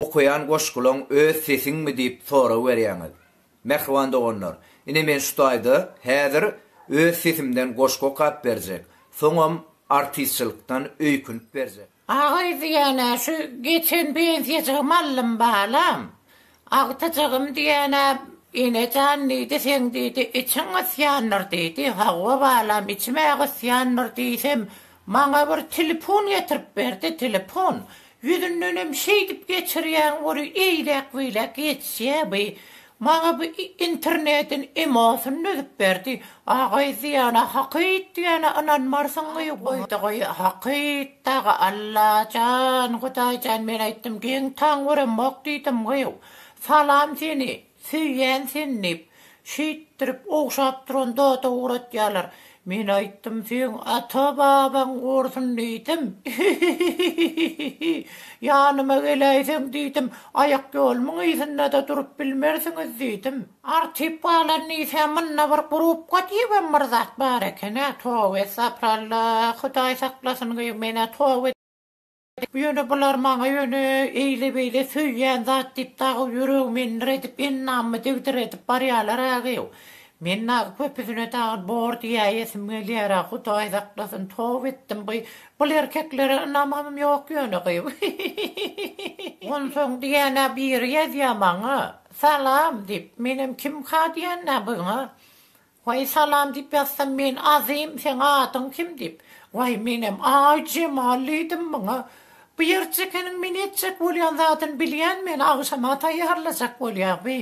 Okaýan goşgulaň öz sesiňmi diýip sorag berýäňiz. Mähriban doganlar, ine men şu taýda häzir öz sesimden goşgy okap berjek, soňam artistçylykdan öýkünip berjek. Agaý diýýän-ä şu geçen pensiýajygy mallym balam. Agtyjygym diýýän-ä Ene jan diýdi, seň diýdi, içiň gysýandyr diýdi. Hawa balam içim-ä gysýandyr diýsem, Maňa bir telefon getirip berdi, telefon. Ýüzündenem şeýdip geçirýäň ory eýläk-beýläk geçýä bi. Maňa bi internediň emosyny düzüp berdi. Agaý diýana hakyt diýana ynanmarsyň goý goýdy goý hakyt dagy Allajan Hudaýjan men aýtdym geň taň göremok diýdim goý salam seni Söýýän seni diýip, şeýtdirip ogşap duran zada ugratýarlar. Men aýtdym, seň ata-babaň gursyn diýdim. Hihihihihi. Ýanyma geläýseň diýdim, aýakýolumyň yzynda-da durup bilmersiňiz diýdim. Artyp galan diýsä, munda bir grubka diýibem bir zat bar eken-ä. Toba estapyralla, Hudaý saklasyn gyýw men-ä toba. Ýöne bular maňa ýöne eýle-beýle söýýän zat diýip dagy ýüregimi endir edip, ennamymy degdir edip barýalar-agew. Men dagy köpüsine dagy bor diýäýesim gelýär-ä, Hudaý saklasyn, toba etdim gyý. Bul erkeklere ynamym ýok ýöne gyý. Onsoň diýýän-ä biri ýazýar maňa, Salam! diýip, menem kimka diýýän-ä buňa. Waý salam diýip ýazsam men Azym seň adyň kim diýip waý menem Aý Jemal diýdim muňa bu ýerjekeniň men etjek bolýan zadyny bilýän meni agşama taýýarlajak bolýa bi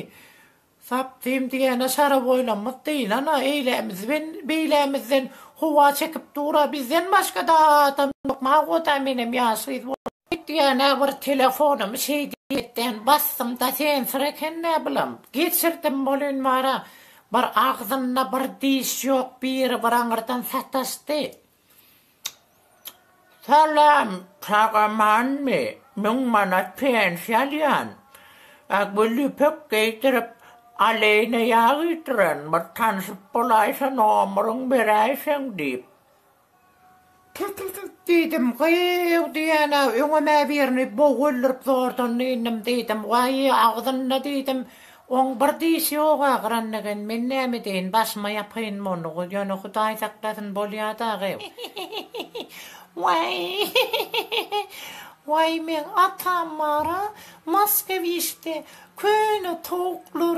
sapdym diýene şaraboýlamyz dyýlana eýlämiz ben beýlämizden howa çekip dura bizden başgada adam ýok magoda menem ýaş gyz boldum. Öýtgäne bir telefonumy şeý diýmekden basdym-da sensor eken näbilim, geçirdim bolyn bara, bir agzynda bir diş ýok biri bir aňyrdan sataşdy. Salam, sag amanmy, müň manat pensiýa alýan, a gül ýüpek geýdirip aleýne ýag iýdiren bir tanşyp bolaýsa nomuryň beräýseň diýip. Tüt-tüt-tüt! diýdim. Gyýw! diýýän-ä, öňem-ä birini bog öldürip zordan dynnym, diýdim. Waýy, agzynda, diýdim, oň bir dişi ýog-a, gyranlegen. Men näme edeýin, başyma ýapaýyn muny, ýöne Hudaý saklasyn, bolýa dagy. Waý-y-y-y-y-y! Waý, meň atam bar-a, Moskewişde, köne towuklar,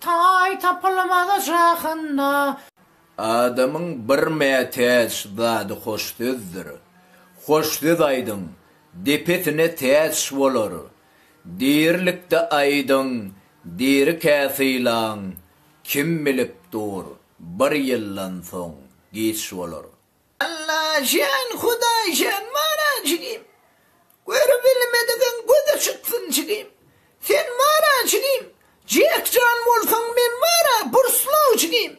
Taý tapylmaz şahynda. Adamyň bir mätäç zady hoş sözdür. Hoş söz aýdyň, depesine täç bolar. Dirilikde aýdyň, dirikä sylaň, kim bilip dur, bir ýyldan soň giç bolar. Allajan Hudaýjan bara jigim Görübilmedigiň gözi çyksyn jigim Sen bara jigim Jekjan bolsaň men baraBurslow jigim.